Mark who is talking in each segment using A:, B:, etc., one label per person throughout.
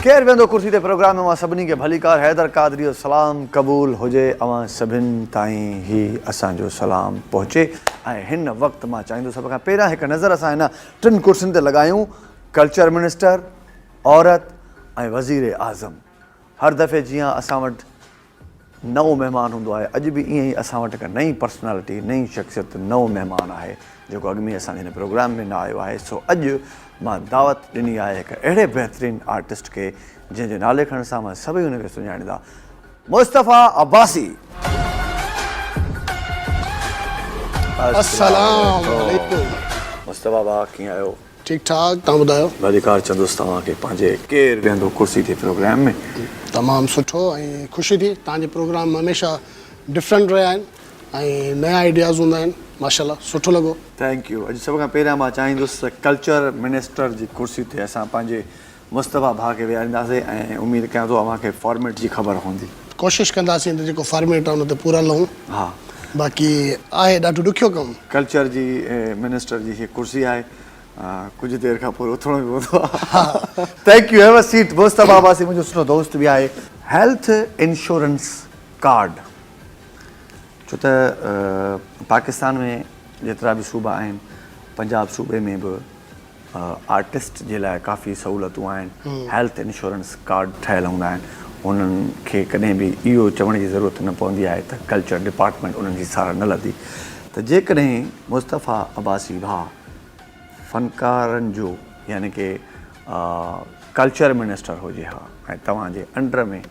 A: ڪير ويهندو ڪرسي تي پروگرام ۾ اوهان سڀني کي ڀليڪار حيدر قادري جو سلام قبول هجي اوهان سڀن تائين هي اسان جو سلام پهچي ۽ هن وقت مان چاهيندو سڀ کان پهريان هڪ نظر اسان هن ٽن ڪرسين تي لڳايون ڪلچر منسٽر عورت ۽ وزير اعظم هر دفعي جيان اسان وٽ نئون مهمان هوندو آهي، اڄ به ائين ئي اسان وٽ هڪ نئين پرسنالٽي، نئين شخصيت، نئون مهمان آهي، جيڪو اڳ ۾ ئي اسان جي هن پروگرام ۾ نه آيو آهي، سو اڄ مان دعوت ڏني آهي هڪ اهڙي بهترين آرٽسٽ کي، جنهن جي نالي کڻڻ سان اوهان سڀئي هن کي سڃاڻيندا، مصطفيٰ عباسي!
B: السلام عليڪم مصطفيٰ ڀاء
A: ڪيئن آهيو؟ ٺيڪ ٺاڪ تهان
B: ٻڌايو. ڀليڪار چندس توهان
A: کي پنهنجي. ڪير ويهندو ڪرسي تي پروگرام ۾. تمام سٺو
B: ۽ خوشي ٿي تهان جي پروگرام هميشه ڊفرنٽ رهيا آهن ۽ نيا آئيڊياز هوندا آهن ماشاءالله سٺو لڳو. ٿينڪ يو اڄ سڀ کان
A: پهريان مان چاهيندس ته ڪلچر منسٽر جي ڪرسي تي اسان پنهنجي مصطفيٰ ڀاء کي ويهارينداسي ۽ اميد ڪيان ٿو اوهان کي فارميٽ جي خبر هوندي. ڪوشش ڪنداسين
B: ته جيڪو فارميٽ آهي ان تي پورا لهون. ها. باقي آهي ڏاڍو ڏکيو ڪم. ڪلچر جي
A: منسٽر جي هيء ڪرسي آهي. ڪجهه دير کان پوء اٿڻو به پوندو آهي. ها. Thank you. Have a seat. Mustafa Abbasi منهنجو سٺو دوست به آهي. هيلٿ انشورنس ڪارڊ ڇو ته پاڪستان ۾ جيترا به صوبا آهن پنجاب صوبي ۾ به. آرٽسٽ جي لاء ڪافي سهولتون آهن، هيلٿ انشورنس ڪارڊ ٺهيل هوندا آهن، انهن کي ڪڏهن به اهو چوڻ جي ضرورت نه پوندي آهي ته ڪلچر ڊپارٽمينٽ انهن جي ساراهه نه لڌي ته جيڪڏهن مصطفيٰ عباسي ڀاء فنڪارن جو يعني ڪي ڪلچر منسٽر هجي ها ۽ توهان جي انڊر ۾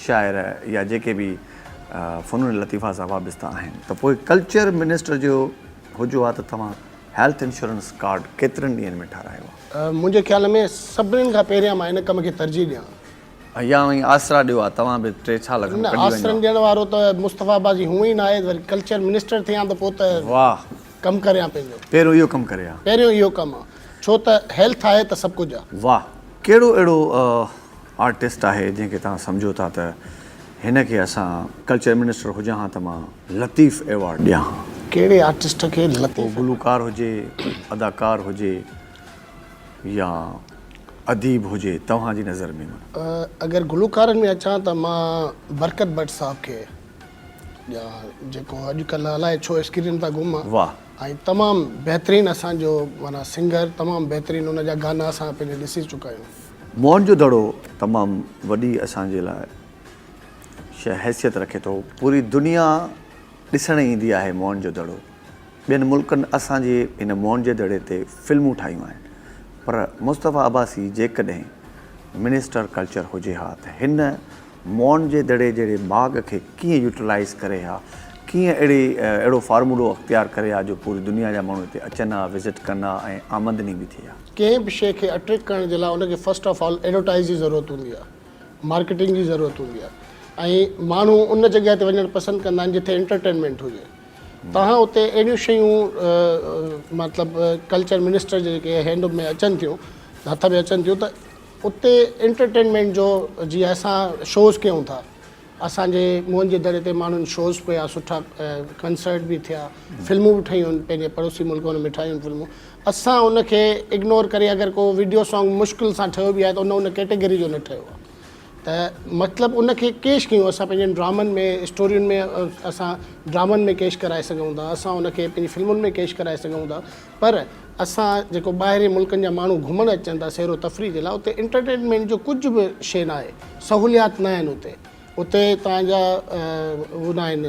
A: شاعر يا جيڪي به فنون لطيفه سان وابسته آهن ته پوء ڪلچر منسٽر جو هجو ها ته توهان هيلٿ انشورنس ڪارڊ ڪيترن ڏينهن ۾ ٺارايو ها؟ منهنجي خيال ۾
B: سڀنين کان پهريان مان هن ڪم کي ترجيح ڏيان. ايا اوهين آسرا
A: ڏيو ها توهان به ٽي سال کن نه ڪڍي وڃو ها. آسرن ڏيڻ وارو
B: ته مصطفي عباس جي هونئن ئي نه آهي وري ڪلچر منسٽر ٿيان ته پوء ته واهه. ڪم
A: ڪريان
B: پنهنجو. پهريون اهو ڪم ڪري ها.
A: پهريون اهو ڪم ها.
B: ڇو ته هيلٿ آهي ته سڀ ڪجهه آهي. واهه. ڪهڙو اهڙو
A: آرٽسٽ آهي جنهن کي توهان سمجهو ٿا ته هن کي اسان ڪلچر منسٽر هجان ها ته مان. لطيف ايوارڊ ڏيان. ڪهڙي آرٽسٽ
B: کي لطيف ايوارڊ. پوء گلوڪار هجي،
A: اداڪار هجي يا اديب هجي توهان جي نظر ۾ معنيٰ. اگر گلوڪارن
B: ۾ اچان ته مان برڪت بٽ صاحب کي ڏيان جيڪو اڄ ڪلهه الائي ڇو اسڪرين تان گم آهي واهه. ۽ تمام بهترين اسان جو معنيٰ سنگر تمام بهترين ان جا گانا اسان پنهنجي ڏسي چڪا آهيون. موهن جو دڙو
A: تمام وڏي اسان جي لاء. شهر حيثيت رکي ٿو. پوري دنيا ڏسڻ ايندي آهي موهن جو دڙو. ٻين ملڪن اسان جي هن موهن جي دڙي تي فلمون ٺاهيون آهن پر مصطفيٰ عباسي جيڪڏهن منسٽر ڪلچر هجي ها ته هن موهن جي دڙي جهڙي باغ کي ڪيئن يوٽيلائيز ڪري ها ڪيئن اهڙي اهڙو فارمولو اختيار ڪري ها جو پوري دنيا جا ماڻهو هتي اچن ها وزٽ ڪن ها ۽ آمدني به ٿئي ها. ڪنهن به شيء کي
B: اٽريڪٽ ڪرڻ جي لاء ان کي فرسٽ آف آل ايڊورٽائيز جي ضرورت هوندي آهي مارڪيٽنگ جي ضرورت هوندي آهي ۽ ماڻهو ان جڳهه تي وڃڻ پسند ڪندا آهن جتي انٽرٽينمينٽ هجي توهان اتي اهڙيون شيون مطلب ڪلچر منسٽر جي جيڪي هينڊ ۾ اچن ٿيون هٿ ۾ اچن ٿيون ته اتي انٽرٽينمينٽ جو جيئن اسان شوز ڪيون ٿا اسان جي موهن جي دڙي تي ماڻهن شوز ڪيا سٺا ڪنسرٽ به ٿيا فلمون به ٺهيون پنهنجي پڙوسي ملڪ ۾ ٺاهيون فلمون اسان ان کي اگنور ڪري اگر ڪو ويڊيو سانگ مشڪل سان ٺهيو به آهي ته ان ان ڪيٽيگري جو نه ٺهيو آهي ته مطلب ان کي ڪيش ڪيون اسان پنهنجن ڊرامن ۾ اسٽورين ۾ اسان ڊرامن ۾ ڪيش ڪرائي سگهون ٿا اسان ان کي پنهنجي فلمن ۾ ڪيش ڪرائي سگهون ٿا پر اسان جيڪو ٻاهرين ملڪن جا ماڻهو گهمڻ اچن ٿا سير و تفريح جي لاء اتي انٽرٽينمينٽ جو ڪجهه به شيء نه آهي سهوليات نه آهن اتي اتي توهان جا هو نه آهن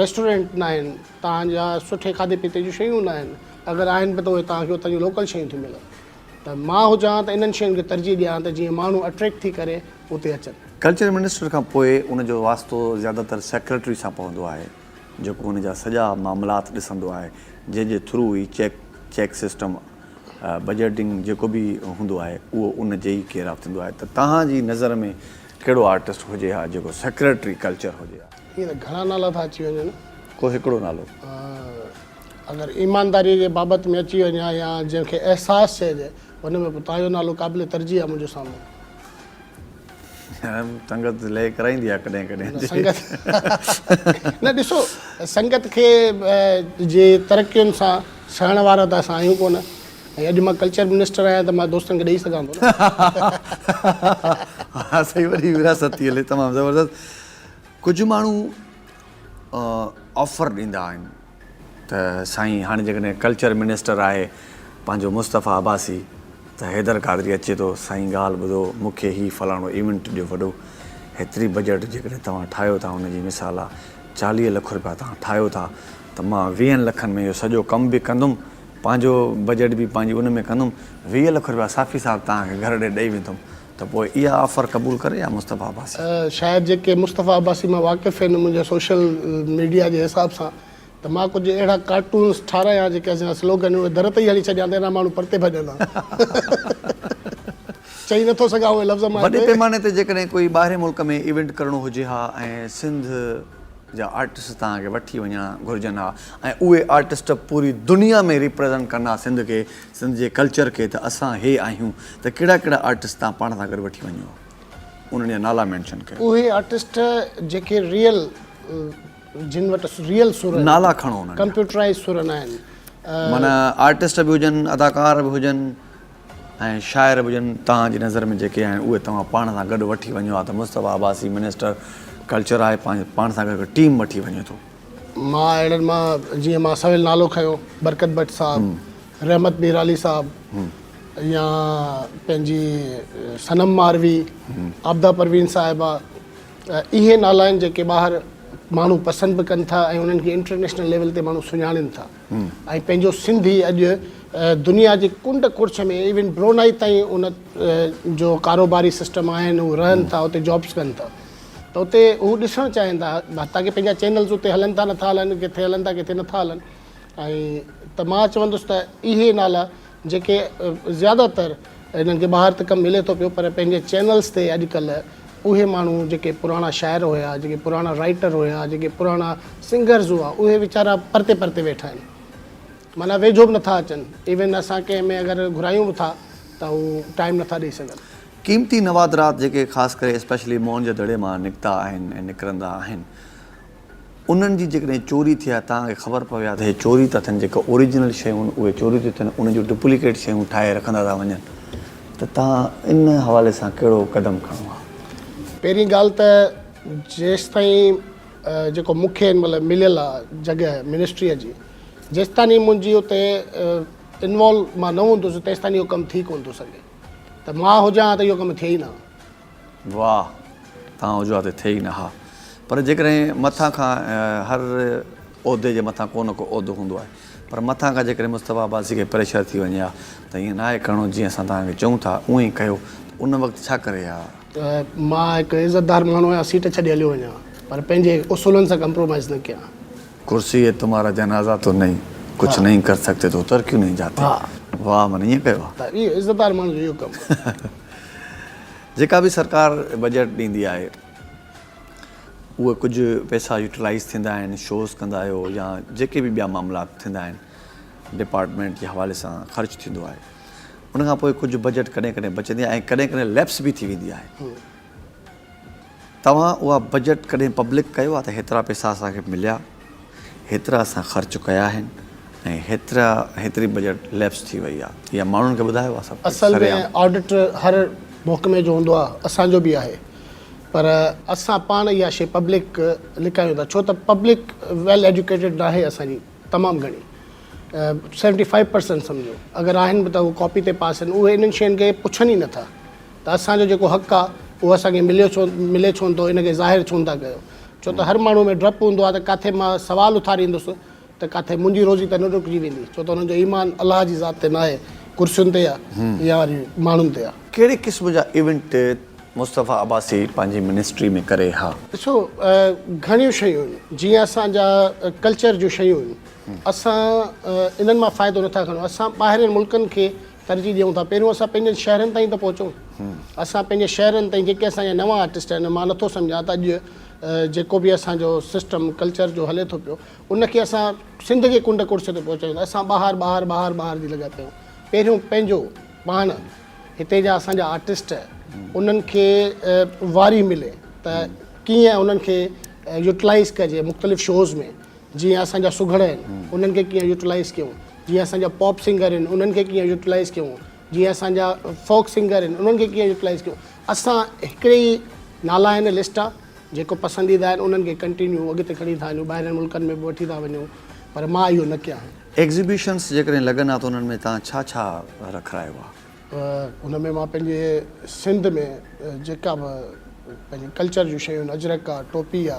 B: ريسٽورينٽ نه آهن توهان جا سٺي کاڌي پيتي جون شيون نه آهن اگر آهن به ته اهي توهان کي اتان جون لوڪل شيون ٿيون ملن ته مان هجان ته انهن شين کي ترجيح ڏيان ته جيئن ماڻهو اٽريڪٽ ٿي ڪري اتي اچن. ڪلچر منسٽر کان
A: پوء ان جو واسطو زياده تر سيڪريٽري سان پوندو آهي. جيڪو ان جا سڄا معاملات ڏسندو آهي جنهن جي ٿرو هي چيڪ چيڪ سسٽم بجيٽنگ جيڪو به هوندو آهي اهو ان جي ئي ڪير آف ٿيندو آهي ته توهان جي نظر ۾ ڪهڙو آرٽسٽ هجي ها جيڪو سيڪريٽري ڪلچر هجي ها. ائين ته گهڻا نالا ٿا
B: اچي وڃن. ڪو هڪڙو نالو. اگر ايمانداري جي بابت ۾ اچي وڃي ها يا جنهن کي احساس چئجي ان ۾ به توهان جو نالو قابل ترجيح آهي منهنجي سامهون.
A: سنگت لي ڪرائيندي آهي ڪڏهن ڪڏهن. نه سنگت
B: نه ڏسو سنگت کي جي ترقين سان سهڻ وارا ته اسان آهيون ڪونه ۽ اڄ مان ڪلچر منسٽر آهيان ته مان دوستن کي ڏئي سگهان ٿو
A: نه. ها سائين وڏي وراثت ٿي هلي تمام زبردست ڪجهه ماڻهو آفر ڏيندا آهن. ته سائين هاڻي جيڪڏهن ڪلچر منسٽر آهي پنهنجو مصطفيٰ عباسي ته حيدر قادري اچي ٿو سائين ڳالهه ٻڌو مون کي هي فلاڻو ايونٽ ڏيو وڏو هيتري بجيٽ جيڪڏهن توهان ٺاهيو ٿا ان جي مثال آ چاليهه لک روپيا توهان ٺاهيو ٿا ته مان ويهن لکن ۾ اهو سڄو ڪم به ڪندم پنهنجو بجيٽ به پنهنجي ان ۾ ڪندم ويهه لک روپيا صافي صاحب توهان کي گهر ڏي ڏئي ويندم ته پوء اها آفر قبول ڪري يا مصطفيٰ عباسي؟ شايد جيڪي
B: مصطفيٰ عباسي مان واقف هن منهنجي سوشل ميڊيا جي حساب سان ته مان ڪجهه اهڙا ڪارٽونز ٺاراهيان جيڪي اسان جا سلوگن اهي در تي ئي هڻي ڇڏيان ته اهڙا ماڻهو پرتي ڀڄن ها چئي نٿو سگهان اهي لفظ مان هتي. وڏي پيماني تي جيڪڏهن
A: ڪوئي ٻاهرين ملڪ ۾ ايونٽ ڪرڻو هجي ها ۽ سنڌ جا آرٽسٽ تهان کي وٺي وڃڻ گهرجن ها ۽ اهي آرٽسٽ پوري دنيا ۾ ريپريزنٽ ڪن ها سنڌ کي سنڌ جي ڪلچر کي ته اسان هي آهيون ته ڪهڙا ڪهڙا آرٽسٽ تهان پاڻ سان گڏ وٺي وڃو انهن جا نالا مينشن ڪيو. اهي آرٽسٽ
B: جيڪي ريئل جن وٽ ريئل سر آهن. نالا کڻو انهن جا.
A: ڪمپيوٽرائز سر نه
B: آهن. معنيٰ
A: آرٽسٽ به هجن اداڪار به هجن ۽ شاعر به هجن تهان جي نظر ۾ جيڪي آهن اهي توهان پاڻ سان گڏ وٺي وڃو ها ته مصطفيٰ عباسي منسٽر ڪلچر آهي پاڻ سان گڏ هڪ ٽيم وٺي وڃي ٿو. مان اهڙن
B: مان جيئن مان سويل نالو کنيو برڪت بٽ صاحب رحمت ميرالي صاحب يا پنهنجي صنم ماروي عابده پروين صاحبه اهي نالا آهن جيڪي ٻاهر ماڻهو پسند به ڪن ٿا ۽ انهن کي انٽرنيشنل ليول تي ماڻهو سڃاڻين ٿا ۽ پنهنجو سنڌي اڄ دنيا جي ڪنڊ ڪڙڇ ۾ ايون برونائي تائين ان جو ڪاروباري سسٽم آهن هو رهن ٿا اتي جابس ڪن ٿا ته اتي هو ڏسڻ چاهين ٿا حتيٰ ڪي پنهنجا چينلز اتي هلن ٿا نٿا هلن ڪٿي هلن ٿا ڪٿي نٿا هلن ۽ ته مان چوندس ته اهي نالا جيڪي زياده تر انهن کي ٻاهر ته ڪم ملي ٿو پيو پر پنهنجي چينلز تي اڄڪلهه اهي ماڻهو جيڪي پراڻا شاعر هيا جيڪي پراڻا رائيٽر هيا جيڪي پراڻا سنگرز هئا اهي ويچارا پرتي پرتي ويٺا آهن معنيٰ ويجهو به نٿا اچن ايون اسان ڪنهن ۾ اگر گهرايون به ٿا ته هو ٽائيم نٿا ڏئي سگهن قيمتي نوادرات
A: جيڪي خاص ڪري اسپيشلي موهن جي دڙي مان نڪتا آهن ۽ نڪرندا آهن انهن جي جيڪڏهن چوري ٿئي ها توهان کي خبر پوي ها ته هي چوري ٿا ٿين جيڪي اوريجنل شيون اهي چوري ٿيون ٿين انهن جون ڊپليڪيٽ شيون ٺاهي رکندا ٿا وڃن ته توهان ان حوالي سان ڪهڙو قدم کڻو ها. پهرين ڳالهه
B: ته جيستائين جيڪو مون کي هن مهل مليل آ جڳهه منسٽريء جي جيستاني منهنجي اتي انوالو مان نه هوندس تيستاني اهو ڪم ٿي ڪونه ٿو سگهي. ته مان هجان ها ته اهو ڪم ٿئي ئي نه ها. واهه
A: توهان هجو ها ته ٿئي ئي نه ها. پر جيڪڏهن مٿان کان هر عهدي جي مٿان ڪو نه ڪو عهدو هوندو آهي پر مٿان کان جيڪڏهن مصطفيٰ عباسي کي پريشر ٿي وڃي ها ته ائين ناهي ڪرڻو جيئن اسان توهان کي چئون ٿا اونئن ئي ڪيو ته ان وقت ڇا ڪري ها؟ ته مان هڪ
B: عزتدار ماڻهو آهيان سيٽ ڇڏي هليو وڃان پر پنهنجي اصولن سان ڪمپرومائيز نه ڪيان. ڪرسي هي
A: تمهارا جنازه تو نهين ڪڇ نهين ڪر سگتي تو اتر ڪيون نهين جاتي واهه معنيٰ ائين ڪيو آهي. اهو عزتدار ماڻهن جو
B: اهو ڪم آهي.
A: جيڪا به سرڪار بجيٽ ڏيندي آهي اهي ڪجهه پئسا يوٽيلائيز ٿيندا آهن شوز ڪندا آهيو يا جيڪي به ٻيا معاملات ٿيندا آهن ڊپارٽمينٽ جي حوالي سان خرچ ٿيندو آهي ان کان پوء ڪجهه بجيٽ ڪڏهن ڪڏهن بچندي آهي ۽ ڪڏهن ڪڏهن ليپس به ٿي ويندي آهي. توهان اها بجيٽ ڪڏهن پبلڪ ڪيو آهي ته هيترا پئسا اسان کي مليا هيترا اسان خرچ ڪيا آهن ۽ هيترا هيتري بجيٽ ليپس ٿي وئي آهي يا ماڻهن کي ٻڌايو آهي سڀ ڪجهه اصل ۾ سرعام. آڊٽ
B: هر محڪمي جو هوندو آهي اسان جو به آهي پر اسان پاڻ اها شي پبلڪ لڪايون ٿا ڇو ته پبلڪ ويل ايڊيوڪيٽيڊ ناهي اسان جي تمام گهڻي سيونٽي فائيو پرسنٽ سمجهو اگر آهن به ته هو ڪاپي تي پاس آهن اهي انهن شين کي پڇن ئي نه ٿا. ته اسان جو جيڪو حق آ اهو اسان کي مليو ڇو ملي ڇو نٿو ان کي ظاهر ڇو نٿا ڪيو ڇو ته هر ماڻهو ۾ ڊپ هوندو آ ته ڪاٿي مان سوال اٿاريندس ته ڪاٿي منهنجي روزي ته نه رڪجي ويندي ڇو ته انهن جو ايمان الله جي ذات تي ناهي ڪرسين تي آ يا وري ماڻهن تي آ. ڪهڙي قسم جا ايونٽ
A: مصطفيٰ عباسي پنهنجي منسٽري ۾ ڪري ها؟ ڏسو
B: گهڻيون شيون آهن جيئن اسان جا ڪلچر جون شيون آهن اسان انهن مان فائدو نٿا کڻون اسان ٻاهرين ملڪن کي ترجيح ڏيون ٿا پهريون اسان پنهنجن شهرن تائين ته پهچون اسان پنهنجي شهرن تائين جيڪي اسان جا نوان آرٽسٽ آهن مان نٿو سمجهان ته اڄ جيڪو به اسان جو سسٽم ڪلچر جو هلي ٿو پيو ان کي اسان سنڌ جي ڪنڊ ڪڙڇ تي پهچايون ته اسان ٻاهر ٻاهر ٻاهر ٻاهر جي لڳا پيون پهريون پنهنجو پاڻ هتي جا اسان جا آرٽسٽ انهن کي واري ملي ته ڪيئن انهن کي يوٽلائز ڪجي مختلف شوز ۾ جيئن اسان جا سگهڙ آهن انهن کي ڪيئن يوٽيلائيز ڪيون جيئن اسان جا پاپ سنگر آهن انهن کي ڪيئن يوٽيلائيز ڪيون جيئن اسان جا فوڪ سنگر آهن انهن کي ڪيئن يوٽيلائيز ڪيون اسان هڪڙي ئي نالا آهن لسٽ آ جيڪو پسنديده آهن انهن کي ڪنٽينيو اڳتي کڻي ٿا هليون ٻاهرين ملڪن ۾ به وٺي ٿا وڃون پر مان اهو نه ڪيان ايگزيبيشنس جيڪڏهن
A: لڳن ها ته انهن ۾ توهان ڇا ڇا رکرايو آ؟ ان ۾ مان پنهنجي
B: سنڌ ۾ جيڪا به پنهنجي ڪلچر جون شيون آهن اجرڪ آ ٽوپي آ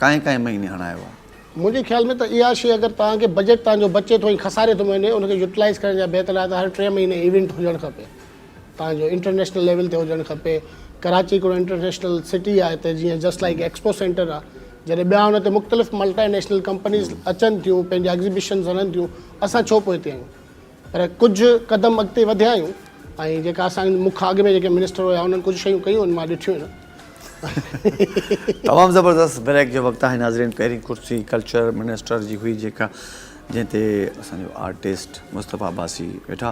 A: ڪانء ڪانء مهيني هڻايو آهي. منهنجي خيال ۾ ته
B: اها شيء اگر توهان کي بجيٽ توهان جو بچي ٿو ۽ خساري ٿو وڃي ان کي يوٽيلائيز ڪرڻ جا بهتر آهي ته هر ٽي مهيني ايونٽ هجڻ کپي توهان جو انٽرنيشنل ليول تي هجڻ کپي ڪراچي هڪڙو انٽرنيشنل سٽي آهي ته جيئن جسٽ لائيڪ ايڪسپو سينٽر آهي جڏهن ٻيا ان تي مختلف ملٽي نيشنل ڪمپنيز اچن ٿيون پنهنجا ايگزيبشنز هڻن ٿيون اسان ڇو پوئتي آهيون. پر ڪجهه قدم اڳتي وڌيا آهيون ۽ جيڪا اسان مون کان اڳ ۾ جيڪي منسٽر هيا انهن ڪجهه شيون ڪيون ان مان ڏٺيون آهن. تمام
A: زبردست بريڪ جو وقت آهي ناظرين پهرين ڪرسي ڪلچر منسٽر جي هئي جيڪا جنهن تي اسان جو آرٽسٽ مصطفيٰ عباسي ويٺا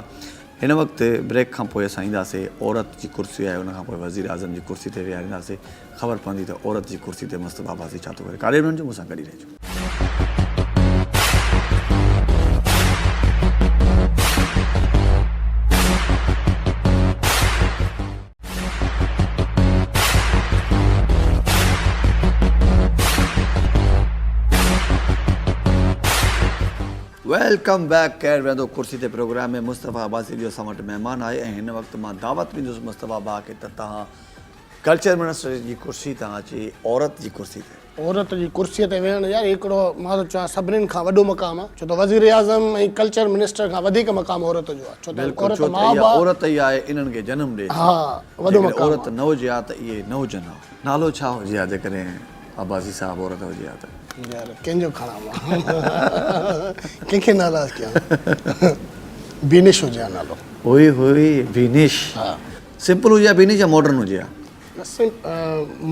A: هن وقت بريڪ کان پوء اسان اينداسي عورت جي ڪرسي آهي ان کان پوء وزير اعظم جي ڪرسي تي ويهارينداسي. خبر پوندي ته عورت جي ڪرسي تي مست بابا ٿي ڇا ٿو ڪري ڪاڏي به نه وڃجو مون سان گڏ ئي رهجو. ويلڪم بيڪ ڪير ويهندو ڪرسي تي پروگرام ۾ مصطفيٰ عباسي جو اسان وٽ مهمان آهي ۽ هن وقت مان دعوت ڏيندس مصطفيٰ ڀاء کي ته تهان ڪلچر منسٽر جي ڪرسي تان اچي عورت جي ڪرسي تي. عورت جي ڪرسي تي
B: ويهڻ يار هڪڙو مان ٿو چوان سڀنن کان وڏو مقام آ ڇو ته وزيراعظم ۽ ڪلچر منسٽر کان وڌيڪ مقام عورت جو آ ڇو ته عورت ماء با اها عورت ئي
A: آهي انهن کي جنم ڏي ٿي جيڪڏهن
B: عورت نه هجي ها ته
A: اهي نه هجن ها. نالو ڇا هجي ها جيڪڏهن عباسي صاحب عورت هجي ها ته. يار ڪنهن جو
B: کڻان مان ڪنهن کي ناراض ڪيان بينش هجي ها نالو. اوئي هوئي
A: بينش. ها.
B: سمپل هجي يا بيني
A: جا ماڊرن هجي يا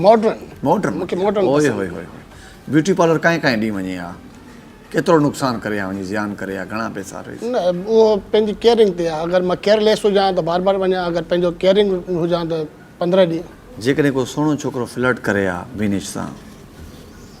A: ماڊرن
B: ماڊرن مونکي ماڊرن اوهي اوهي اوهي
A: بيوٽي پارلر ڪائين ڪائين ڏينهن وڃي يا ڪيترو نقصان ڪري يا وڃي زيان ڪري يا گهڻا پيسا ريس نه اوهو
B: پنهنجي ڪيئرنگ تي يا اگر مان ڪيئر ليس هجان ته بار بار وڃان اگر پنهنجو ڪيئرنگ هجان ته 15 ڏينهن جيڪڏهن ڪو سهڻو ڇوڪرو
A: فلرٽ ڪري يا بينيش سان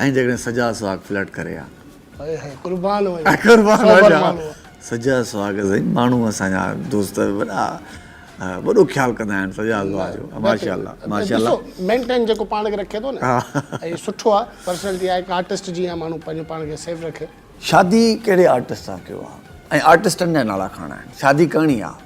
A: ۽ جيڪڏهن سجا سهاڳ فلرٽ ڪري ها. هائي
B: هائي قربان وڃان قربان وڃان
A: سجا سهاڳ سائين ماڻهو اسان جا دوست وڏا وڏو خيال ڪندا آهن سجا سهاڳ جو ماشاءالله ماشاءالله ڏسو مينٽين جيڪو
B: پاڻ کي رکي ٿو نه ۽ سٺو آ پرسنالٽي آ هڪ آرٽسٽ جيان ماڻهو پنهنجو پاڻ کي سيف رکي. شادي ڪهڙي
A: آرٽسٽ سان ڪيو آهي ۽ آرٽسٽن جا نالا ڪھڙا آهن شادي ڪرڻي آ.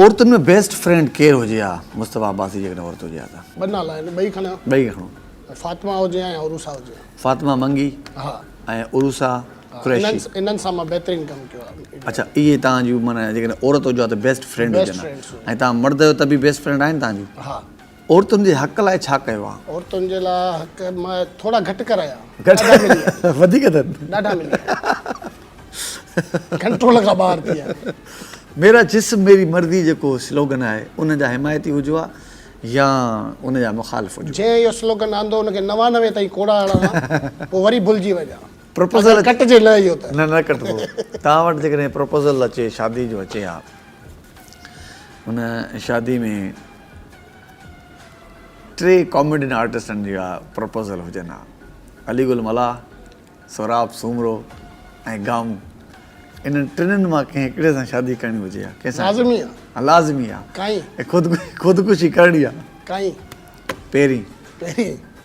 A: عورتن ۾ بيسٽ فرينڊ ڪير هجي ها مصطفيٰ عباسي جيڪڏهن عورت هجي ها ته. ٻه نالا آهن ٻئي
B: کڻيان. ٻئي کڻو. فاطمه هجي ها يا عروسه هجي ها. فاطمه منگي
A: ها ۽ عروسه قريشي. ها انهن سان مان بهترين
B: ڪم ڪيو ها. اڇا اهي توهان
A: جون معنيٰ جيڪڏهن عورت هجو ها ته بيسٽ فرينڊ هجن ها ۽ توهان مرد آهيو ته به بيسٽ فرينڊ آهن توهان جون. ها. عورتن
B: جي حق
A: لاء ڇا ڪيو آ؟ عورتن جي لاء حق
B: مئ ٿورا گهٽ ڪرايا. ڏاڍا ملي آ.
A: وڌيڪ اٿن. ڏاڍا ملي
B: آ. ڪنٽرول کان ٻاهر ٿي آ.
A: ميرا جسم
B: ميري
A: مرضي جيڪو سلوگن آهي ان جا
B: حمايتي
A: هجو آ يا ان جا مخالف هجو. جنهن اهو سلوگن آندو
B: ان کي نوانوي تائين ڪوڙا هڻان ها پوء وري ڀلجي وڃان. پروپوزل اچي. ڪٽجي
A: نه اهو ته.
B: نه نه ڪٽبو.
A: توهان وٽ جيڪڏهن پروپوزل اچي شادي جو اچي ها ان شادي ۾. ٽي ڪاميڊين آرٽسٽن جا پروپوزل هجن ها، علي گل ملاح، سهراب سومرو ۽ گامو. انهن ٽنهن مان ڪنهن هڪڙي سان شادي ڪرڻي هجي ها، ڪنهن سان ڪرڻي؟ لازمي آ. ها لازمي
B: آ. ڪائين. ۽
A: خودڪشي ڪرڻي آ. ڪائين.
B: پهرين.
A: پهرين.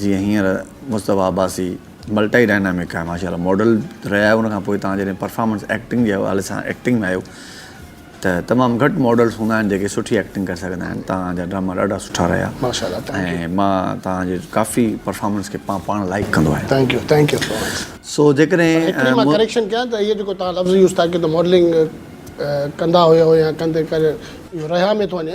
A: جيئن هينئر مصطفيٰ عباسي ملٽائي ڊائنامڪ آهي ماشاء الله ماڊل رهيا آهيو ان کان پوء تان جڏهن پرفارمنس ايڪٽنگ جي حوالي سان ايڪٽنگ ۾ آهيو ته تمام گهٽ ماڊلس هوندا آهن جيڪي سٺي ايڪٽنگ ڪري سگهندا آهن تان جا ڊراما ڏاڍا سٺا رهيا ۽
B: مان
A: تان جي ڪافي پرفارمنس کي مان پاڻ لائڪ ڪندو آهيان
B: سو
A: جيڪڏهن مان ڪريڪشن
B: ڪيان ته اهي جيڪو تان لفظ يوز ٿا ڪيو ته ماڊلنگ ڪندا هيو يا ڪندي ڪري رهيا ۾ ٿو وڃي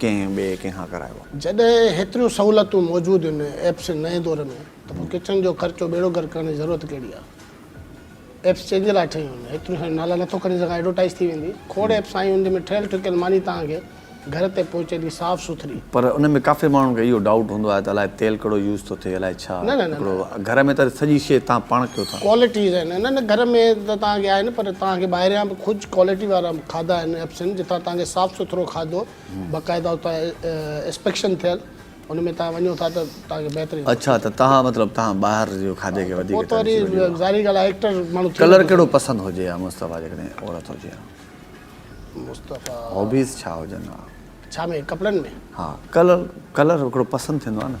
A: ڪنهن ٻئي ڪنهن کان ڪرايو آهي. جڏهن هيتريون
B: سهولتون موجود هن ايپس جي نئين دور ۾ ته پوء ڪچن جو خرچو ٻيڙو گهر ڪرڻ جي ضرورت ڪهڙي آهي. ايپس جنهن جي لاء ٺهيون هن هيتريون ساريون نالا نٿو کڻي سگهان ايڊورٽائيز ٿي ويندي کوڙ ايپس آيون هن جنهن ۾ ٺهيل ٺڪيل ماني توهان کي گهر تي پهچي ڏي صاف سٿري. پر ان ۾ ڪافي
A: ماڻهن کي اهو ڊائوٽ هوندو آهي ته الائي تيل ڪهڙو يوز ٿو ٿئي الائي ڇا هڪڙو گهر ۾ ته سڄي شي توهان پاڻ ڪيو ٿا. ڪوالٽيز آهن نه نه گهر ۾
B: ته توهان کي آهي نه پر توهان کي ٻاهريان به ڪجهه ڪوالٽي وارا. کاڌا ان ايپسن جتان توهان کي صاف سٿرو کاڌو باقاعده اتان اسپيڪشن ٿيل ان ۾ توهان وڃو ٿا ته توهان کي بهترين اڇا ته توهان مطلب
A: توهان ٻاهر جو کاڌي کي وڌيڪ ترجيح ڏيو ها ظاهري
B: ڳالهه آهي ايڪٽر ماڻهو ٿي ڪلر ڪهڙو پسند هجي
A: ها مصطفيٰ جيڪڏهن عورت هجي ها مصطفيٰ
B: هابيز ڇا
A: هجن ها ڇا ۾ ڪپڙن
B: ۾ ها ڪلر
A: ڪلر هڪڙو پسند ٿيندو آهي نه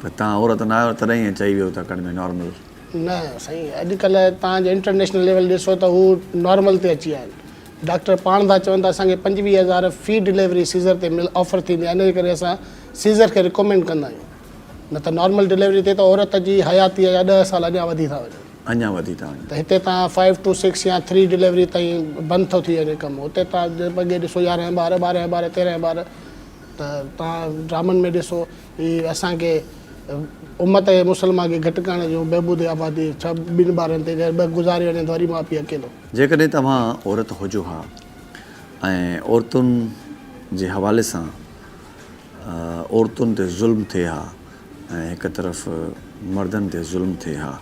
A: پر توهان عورت نه آهيو تڏهن ائين چئي ويو ٿا ڪن ۾ نارمل. نه سائين
B: اڄ ڪلهه توهان جو انٽرنيشنل ليول ڏسو ته هو نارمل تي اچي ويا آهن ڊاڪٽر پاڻ ٿا چون ته اسان کي پنجويهه هزار في ڊليوري سيزر تي مل آفر ٿيندي آهي انهي ڪري اسان سيزر کي ريڪومينڊ ڪندا آهيون نه ته نارمل ڊليوري تي ته عورت جي حياتيء جا ڏهه سال اڃان وڌي ٿا وڃن. اڃان وڌي ٿا وڃن. ته
A: هتي توهان فائيو ٽو
B: سڪس يا ٿري ڊليوري تائين بند ٿو ٿي وڃي ڪم اتي توهان اڳي ڏسو يارهن ٻار ٻارهن ٻار تيرهن ٻار ته توهان ڊرامن ۾ ڏسو هي اسان کي امت مسلمه کي گهٽ ڪرڻ جو بهبود آبادي ڇا ٻن ٻارن تي گهر ٻه گذاري وڃن ته وري ماء پيء اڪيلو. جيڪڏهن توهان
A: عورت هجو ها ۽ عورتن جي حوالي سان عورتن تي ظلم ٿئي ها ۽ هڪ طرف مردن تي ظلم ٿئي ها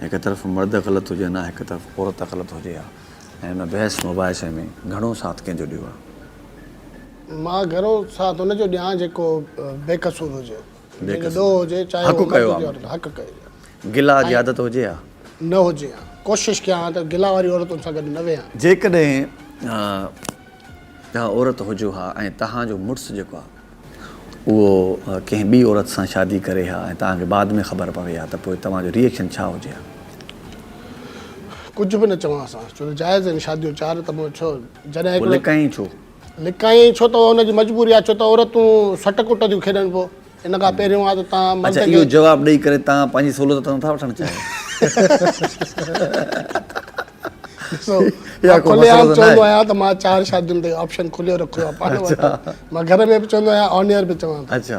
A: هڪ طرف مرد غلط هجن ها هڪ طرف عورت غلط هجي ها ۽ ان بحث مباحثي ۾ گهڻو ساٿ ڪنهن جو ڏيو ها. مان گهرو
B: ساٿ ان جو ڏيان جيڪو بي قصور هجي. جنهن جو ڏوهه هجي چاهي هو مرد هجي عورت حق
A: ڪيو. گلا جي عادت هجي ها. نه هجي ها.
B: ڪوشش ڪيان ها ته گلا واري عورتن سان گڏ نه ويهان. جيڪڏهن
A: توهان عورت هجو ها ۽ توهان جو مڙس جيڪو آهي اهو ڪنهن ٻي عورت سان شادي ڪري ها ۽ توهان کي بعد ۾ خبر پوي ها ته پوء توهان جو ريئڪشن ڇا هجي ها؟
B: ڪجهه به نه چوان ها. ڇو ته جائز آهن شاديون چار ته پوء ڇو؟ جڏهن هڪڙو. پوء لڪائين ڇو؟ لڪائين ڇو ته ان جي مجبوري آهي ڇو ته عورتون
A: سٽ
B: ڪٽ ٿيون کيڏن پو ان کان پهريون آ ته تان مرد کي اچا اهو جواب ڏئي ڪري تان
A: پنهنجي سهولت ته نٿا وٺڻ چاهيو ڏسو
B: مان
A: کلي عام چوندو آهيان
B: ته مان
A: چار
B: شادين تي آپشن کليو رکيو آ پاڻ وٽ مان گهر ۾ به چوندو آهيان آن ايئر به چوان ٿو اچا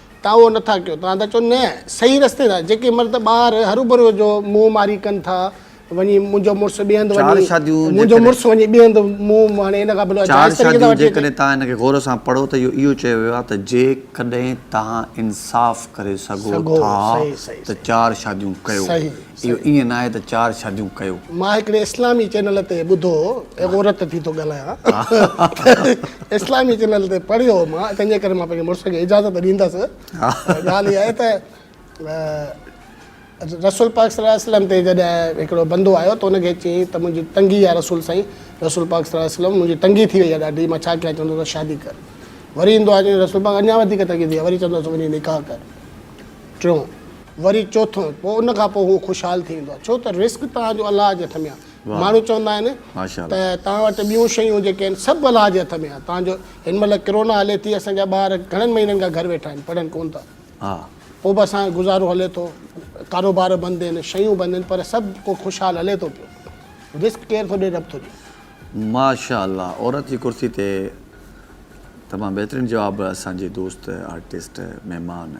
B: توهان اهو نه ٿا ڪيو. توهان ٿا چئو نه، صحيح رستي ٿا. جيڪي مرد ٻاهر هروڀرو جو منهن ماري ڪن ٿا، وڃي منهنجو مڙس ٻئي هنڌ وڃي، منهنجو
A: مڙس وڃي ٻئي
B: هنڌ منهن ماري، ان کان بلوء جائز طريقي سان وٺي اچي. چار شاديون جيڪڏهن
A: توهان ان کي غور سان پڙهو ته اهو اهو چيو ويو آهي ته جيڪڏهن توهان انصاف ڪري سگهو ٿا ته چار
B: شاديون
A: ڪيو. اهو ائين
B: ناهي ته
A: چار شاديون ڪيو. مان هڪڙي اسلامي
B: چينل تي ٻڌو هو ۽ غورت ٿي ٿو ڳالهايان ته اسلامي چينل تي پڙهيو هو مان تنهنجي ڪري مان پنهنجي مڙس کي اجازت ڏيندس ڳالهه اها آهي ته رسول پاڪ صلي الله عليه وسلم تي جڏهن هڪڙو بندو آيو ته ان کي چيائين ته منهنجي تنگي آهي رسول سائين رسول پاڪ صلي الله عليه وسلم منهنجي تنگي ٿي وئي آهي ڏاڍي مان ڇا ڪيان چوندو ته شادي ڪر وري ايندو آهي چوندو رسول پاڪ اڃا وڌيڪ تنگي ٿي وئي آهي وري چوندو ته وڃي نڪاح ڪر ٽيون وري چوٿون پوء ان کان پوء هو خوشحال ٿي ويندو آهي ڇو ته رزق توهان جو الله جي هٿ ۾ آهي ماڻهو چوندا آهن ته توهان وٽ ٻيون شيون جيڪي آهن سڀ الله جي هٿ ۾ آهي توهان جو هن مهل ڪرونا هلي ٿي اسان جا ٻار گهڻن مهينن کان گهر ويٺا آهن پڙهن ڪون ٿا پوء به اسان جو گذارو هلي ٿو ڪاروبار بند آهن شيون بند آهن پر سڀ ڪو خوشحال هلي ٿو پيو رزق ڪير ٿو ڏي رب ٿو ڏي ماشاء الله
A: عورت جي ڪرسي تي تمام بهترين جواب اسان جي دوست آرٽسٽ مهمان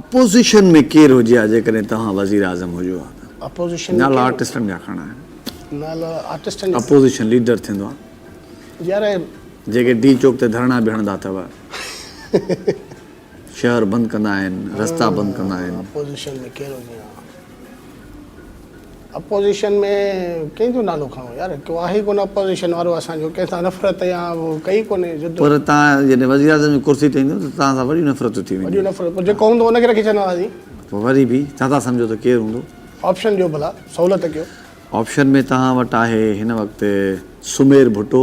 B: اپوزيشن ۾
A: ڪير هجي ها جيڪڏهن توهان وزيراعظم هجو ها ته؟ نالا
B: آرٽسٽن جا
A: کڻڻا آهن.
B: اپوزيشن ليڊر
A: ٿيندو آ.
B: جيڪي ڊي چوڪ
A: تي ڌرڻا به هڻندا اٿو. شهر بند ڪندا آهن، رستا بند ڪندا آهن.
B: اپوزيشن ۾ ڪنهن جو نالو کڻو يار ڪو آهي ئي ڪونه اپوزيشن وارو اسان جو ڪنهن سان نفرت يا ڪئي ڪونهي جد و پر تان جڏهن
A: وزيراعظم جي ڪرسي تي ايندو ته تان سان وڏيون نفرتون ٿي وينديون وڏيون نفرت پوء جيڪو هوندو ان
B: کي رکي ڇڏنداسين پوء وري به
A: ڇا ٿا سمجهو ته ڪير هوندو. آپشن ڏيو ڀلا
B: سهولت ڪيو. آپشن ۾ توهان
A: وٽ آهي هن وقت سمير ڀٽو.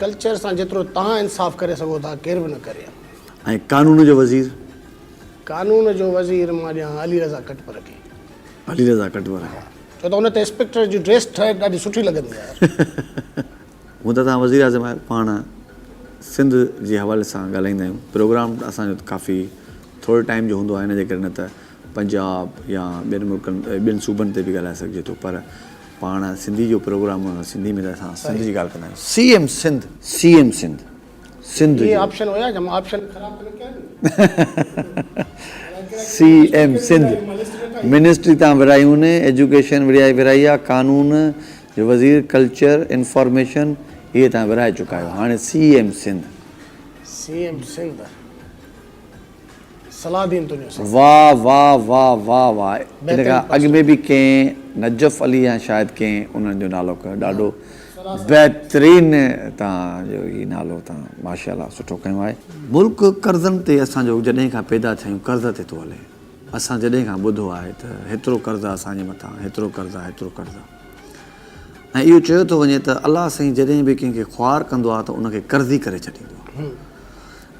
A: ڪلچر سان
B: جيترو توهان انصاف ڪري سگهو ٿا ڪير به نه ڪري ها. ۽ قانون
A: جو وزير؟ قانون
B: جو وزير مان ڏيان ها علي رضا ڪٽپر کي. علي رضا
A: ڪٽپر کي. ڇو ته ان تي
B: اسپيڪٽر جي ڊريس ٺهي ڏاڍي سٺي لڳندي آهي.
A: هون ته توهان وزير اعظم آهيو پاڻ سنڌ جي حوالي سان ڳالهائيندا آهيون پروگرام اسان جو ته ڪافي ٿوري ٽائيم جو هوندو آهي ان جي ڪري نه ته پنجاب يا ٻين ملڪن ٻين صوبن تي به ڳالهائي سگهجي ٿو پر پاڻ سنڌي جو پروگرام هوندو آهي سنڌي ۾ ته اسان سنڌ جي ڳالهه ڪندا آهيون C M Sindh C M Sindh Sindh
B: جو سي
A: ايم سنڌ منسٽري تان ورهايون ايجوڪيشن ورهائي ورهائي آهي قانون جو وزير ڪلچر انفارميشن اهي تان ورهائي چڪا آهيو هاڻي C M Sindh C M
B: Sindh Salahuddin Tunio صاحب. واه
A: واه واه واه واه ان کان اڳ ۾ به ڪنهن نجف علي يا شايد ڪنهن انهن جو نالو کنيو ڏاڍو بهترين تان جو هي نالو تان ماشاءالله سٺو کنيو آهي. ملڪ قرضن تي اسان جو جڏهن کان پيدا ٿيا آهيون قرض تي ٿو هلي اسان جڏهن کان ٻڌو آهي ته هيترو قرض آهي اسان جي مٿان هيترو قرض آهي هيترو قرض آهي ۽ اهو چيو ٿو وڃي ته الله سائين جڏهن به ڪنهن کي خوار ڪندو آهي ته ان کي قرضي ڪري ڇڏيندو آهي.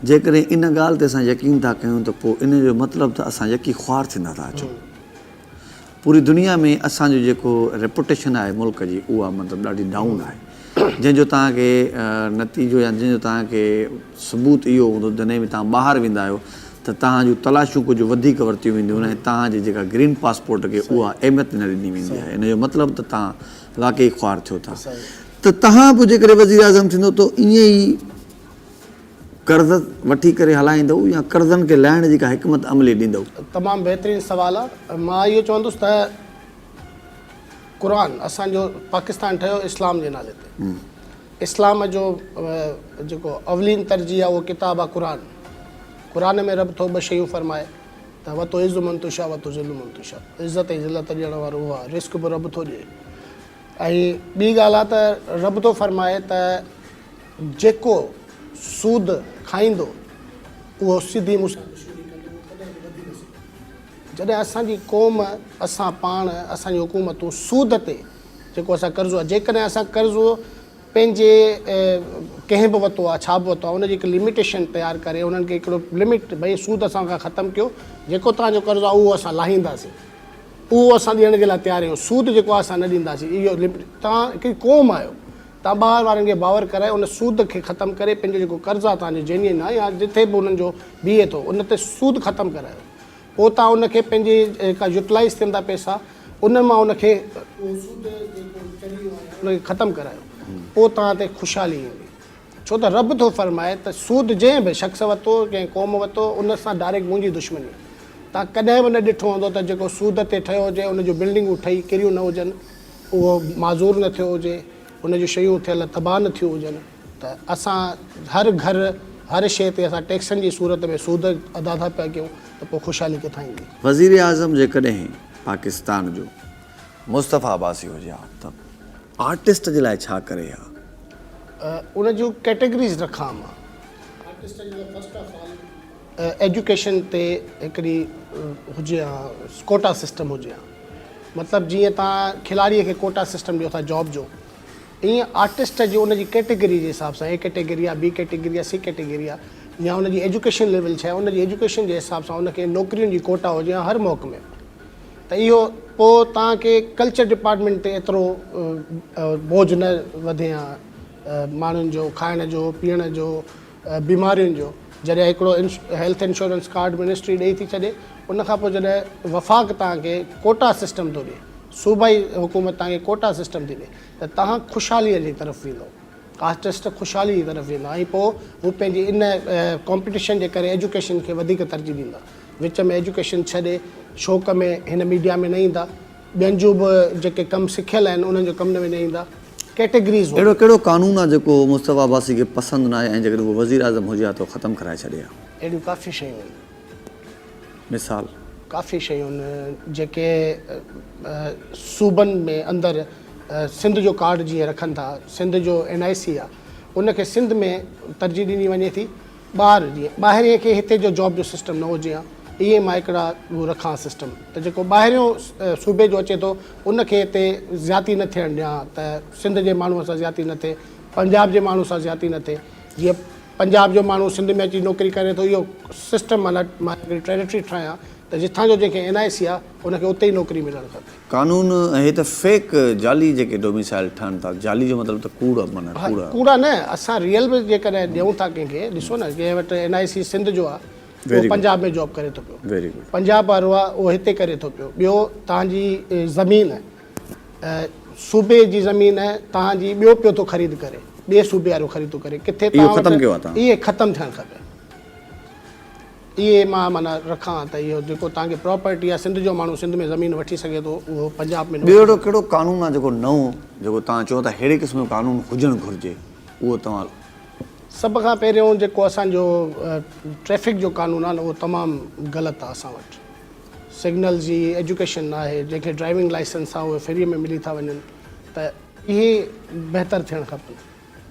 A: جيڪڏهن ان ڳالهه تي اسان يقين ٿا ڪيون ته پوء ان جو مطلب ته اسان يڪي خوار ٿيندا ٿا اچون. پوري دنيا ۾ اسان جو جيڪو ريپوٽيشن آهي ملڪ جي اها مطلب ڏاڍي ڊائون آهي جنهن جو توهان کي نتيجو يا جنهن جو توهان کي ثبوت اهو هوندو جڏهن به توهان ٻاهر ويندا آهيو ته توهان جون تلاشيون ڪجهه وڌيڪ ورتيون وينديون ۽ توهان جي جيڪا گرين پاسپورٽ کي اها اهميت نه ڏني ويندي آهي ان جو مطلب ته توهان واقعي خوار ٿيو ٿا ته توهان پوء جيڪڏهن وزيراعظم ٿيندو ته ائين ئي قرض وٺي ڪري هلائيندؤ يا قرضن کي لاهڻ جي ڪا حڪمت عملي ڏيندؤ؟ تمام بهترين
B: سوال آ مان اهو چوندس ته قرآن اسان جو پاڪستان ٺهيو اسلام جي نالي تي اسلام جو جيڪو اولين ترجيح آ اهو ڪتاب آ قرآن قرآن ۾ رب ٿو ٻه شيون فرمائي ته وتعز من تشاء وتذل من تشاء عزت ۽ ذلت ڏيڻ وارو اهو آ رزق به رب ٿو ڏئي ۽ ٻي ڳالهه آ ته رب ٿو فرمائي ته جيڪو سود کائيندو اهو سڌي مون سان دشمني ڪندو اهو ڪڏهن به وڌي نه سگهندو. جڏهن اسان جي قوم اسان پاڻ اسان جي حڪومتون سود تي جيڪو اسان قرضو جيڪڏهن اسان قرضو پنهنجي ڪنهن به وتو آ ڇا به وتو آ ان جي هڪ لميٽيشن تيار ڪري انهن کي هڪڙو لميٽ ڀئي سود اسان کان ختم ڪيو جيڪو توهان جو قرضو آ اهو اسان لاهينداسين اهو اسان ڏيڻ جي لاء تيار آهيون سود جيڪو آ اسان نه ڏينداسين اهو توهان هڪڙي قوم آهيو ته ٻاهر وارن کي باور ڪرائي ان سود کي ختم ڪري پنهنجو جيڪو قرض آهي توهان جي جينين آهي يا جتي به انهن جو بيهي ٿو ان تي سود ختم ڪرايو پوء توهان ان کي پنهنجي جيڪا يوٽلائيز ٿين ٿا پئسا انهن مان ان کي اهو سود جيڪو چڙهيو آهي ان کي ختم ڪرايو پوء توهان تي خوشحالي ايندي ڇو ته رب ٿو فرمائي ته سود جنهن به شخص ورتو ڪنهن قوم ورتو ان سان ڊائريڪٽ منهنجي دشمني توهان ڪڏهن به نه ڏٺو هوندو ته جيڪو سود تي ٺهيو هجي ان جون بلڊنگون ٺهي ڪريون نه هجن اهو معذور نه ٿيو هجي، ان جون شيون ٿيل تباهه نه ٿيون هجن ته اسان هر گهر، هر شيء تي اسان ٽيڪسن جي صورت ۾ سود ادا ٿا پيا ڪيون ته پوء خوشحالي ڪٿان ايندي؟ وزيراعظم
A: جيڪڏهن پاڪستان جو مصطفيٰ عباسي هجي ها ته آرٽسٽ جي لاء ڇا ڪري ها؟ ان جون
B: ڪيٽيگريز رکان مان. آرٽسٽ جي لاء فرسٽ آف آل ايجوڪيشن تي هڪڙي هجي ها ڪوٽا سسٽم هجي ها مطلب جيئن تان کلاڙي کي ڪوٽا سسٽم ڏيو ٿا جاب جو ايئن آرٽسٽ جو ان جي ڪيٽيگري جي حساب سان اي ڪيٽيگري آ بي ڪيٽيگري آ سي ڪيٽيگري آ يا ان جي ايجوڪيشن ليول ڇا آهي ان جي ايجوڪيشن جي حساب سان ان کي نوڪرين جي ڪوٽا هجي ها هر محڪمي ۾ ته اهو پو تان کي ڪلچر ڊپارٽمينٽ تي ايترو بوجھ نه وڌي ها ماڻهن جو کائڻ جو پيئڻ جو بيمارين جو جڏهن هڪڙو هيلٿ انشورنس ڪارڊ منسٽري ڏئي ٿي ڇڏي ان کان پوء جڏهن وفاق توهان کي ڪوٽا سسٽم ٿو ڏي صوبائي حڪومت توهان کي ڪوٽا سسٽم ٿي ڏي ته توهان خوشحالي جي طرف ويندو آرٽسٽ خوشحالي جي طرف ويندا ۽ پوء هو پنهنجي ان ڪامپيٽيشن جي ڪري ايجوڪيشن کي وڌيڪ ترجيح ڏيندا وچ ۾ ايجوڪيشن ڇڏي شوق ۾ هن ميڊيا ۾ نه ايندا. ٻين جو به جيڪي ڪم سکيل آهن انهن جو ڪم نه وڃائين ايندا ڪيٽيگريز هو. اهڙو ڪهڙو قانون
A: آ جيڪو مصطفيٰ عباسي کي پسند ناهي ۽ جيڪڏهن هو وزير اعظم هجي ها ته ختم ڪرائي ڇڏي ها. اهڙيون ڪافي شيون آهن.
B: مثال؟
A: ڪافي شيون آهن
B: جيڪي صوبن ۾ اندر سنڌ جو ڪارڊ جيئن رکن ٿا سنڌ جو اين آء سي آ ان کي سنڌ ۾ ترجيح ڏني وڃي ٿي. ٻار جيئن ٻاهرين کي هتي جو جاب جو سسٽم نه هجي هان ايئن مان هڪڙا ڏو رکان سسٽم ته جيڪو ٻاهريون صوبي جو اچي ٿو ان کي هتي زياتي نه ٿيڻ ڏيان هان ته سنڌ جي ماڻهو سان زياتي نه ٿئي پنجاب جي ماڻهو سان زياتي نه ٿئي جيئن پنجاب جو ماڻهو سنڌ ۾ اچي نوڪري ڪري ٿو اهو سسٽم مطلب مان هڪڙي ٽريريٽري ٺاهيان ته جتان جو جنهن کي اين آء سي آ ان کي اتي ئي نوڪري ملڻ کپي. قانون ۽ هي ته
A: فيڪ جعلي جيڪي ڊوميسائل ٺهن ٿا جعلي جو مطلب ته ڪوڙ معنيٰ ها ڪوڙا. ڪوڙا نه اسان
B: ريئل به جيڪڏهن ڏيون ٿا ڪنهن کي ڏسو نه جنهن وٽ اين آء سي سنڌ جو آهي اهو Very good. پنجاب ۾ جاب ڪري ٿو پيو Very good. پنجاب وارو
A: آهي اهو
B: هتي ڪري ٿو پيو ٻيو تهان جي اه، زمين اه، صوبي جي زمين اه، تهان جي ٻيو پيو ٿو خريد ڪري ٻئي صوبي وارو خريد ٿو ڪري ڪٿي اهو تهان ختم وٽ ڪيو آهي تهان. اهي
A: ختم ٿيڻ کپي.
B: اهي مان معنيٰ رکان ته اهو جيڪو توهان کي پراپرٽي آهي سنڌ جو ماڻهو سنڌ ۾ زمين وٺي سگهي ٿو اهو پنجاب ۾ نه ٻيو اهڙو ڪهڙو قانون آهي
A: جيڪو نئون جيڪو توهان چئو ٿا اهڙي قسم جو قانون هجڻ گهرجي اهو توهان سڀ کان
B: پهريون جيڪو اسان جو ٽريفڪ جو قانون آهي نه اهو تمام غلط آهي اسان وٽ سگنلز جي ايجوڪيشن نه آهي جنهن کي ڊرائيونگ لائسنس آهي اهي فري ۾ ملي ٿا وڃن ته اهي بهتر ٿيڻ کپن.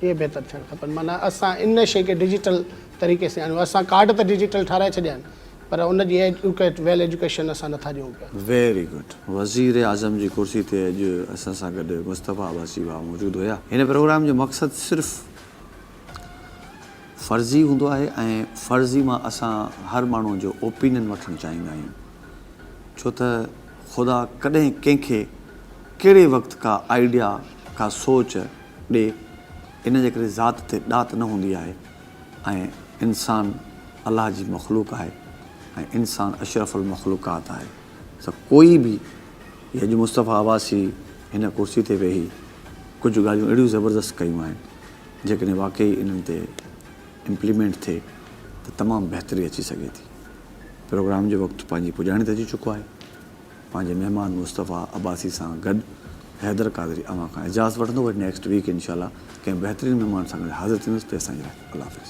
B: اهي بهتر ٿيڻ کپن معنيٰ اسان ان شيء کي ڊجيٽل طريقي سان آڻيون اسان ڪارڊ ته ڊجيٽل ٺهرائي ڇڏيا آهن پر ان جي ايڊيوڪيٽ ويل ايڊيوڪيشن اسان نٿا ڏيون پيا. Very good.
A: وزيراعظم جي ڪرسي تي اڄ اسان سان گڏ مصطفيٰ عباسي ڀاء موجود هيا. هن پروگرام جو مقصد صرف فرضي هوندو آهي ۽ فرضي مان اسان هر ماڻهو جو اوپينين وٺڻ چاهيندا آهيون ڇو ته خدا ڪڏهن ڪنهن کي ڪهڙي وقت ڪا آئيڊيا ڪا سوچ ڏي، ان جي ڪري ذات تي ڏات نه هوندي آهي ۽ انسان الله جي مخلوق آهي ۽ انسان اشرف المخلوقات آهي سو ڪوئي به جي اڄ مصطفيٰ عباسي هن ڪرسي تي ويهي ڪجهه ڳالهيون اهڙيون زبردست ڪيون آهن جيڪڏهن واقعي انهن تي امپليمينٽ ٿئي ته تمام بهتري اچي سگهي ٿي پروگرام جو وقت پنهنجي پڄاڻي ته اچي چڪو آهي. پنهنجي مهمان مصطفيٰ عباسي سان گڏ حيدر قادري اوهان کان اجازت وٺندو وري نيڪسٽ ويڪ انشاء الله ڪنهن بهترين مهمان سان گڏ حاضر ٿيندس تيسين لاء الله حافظ.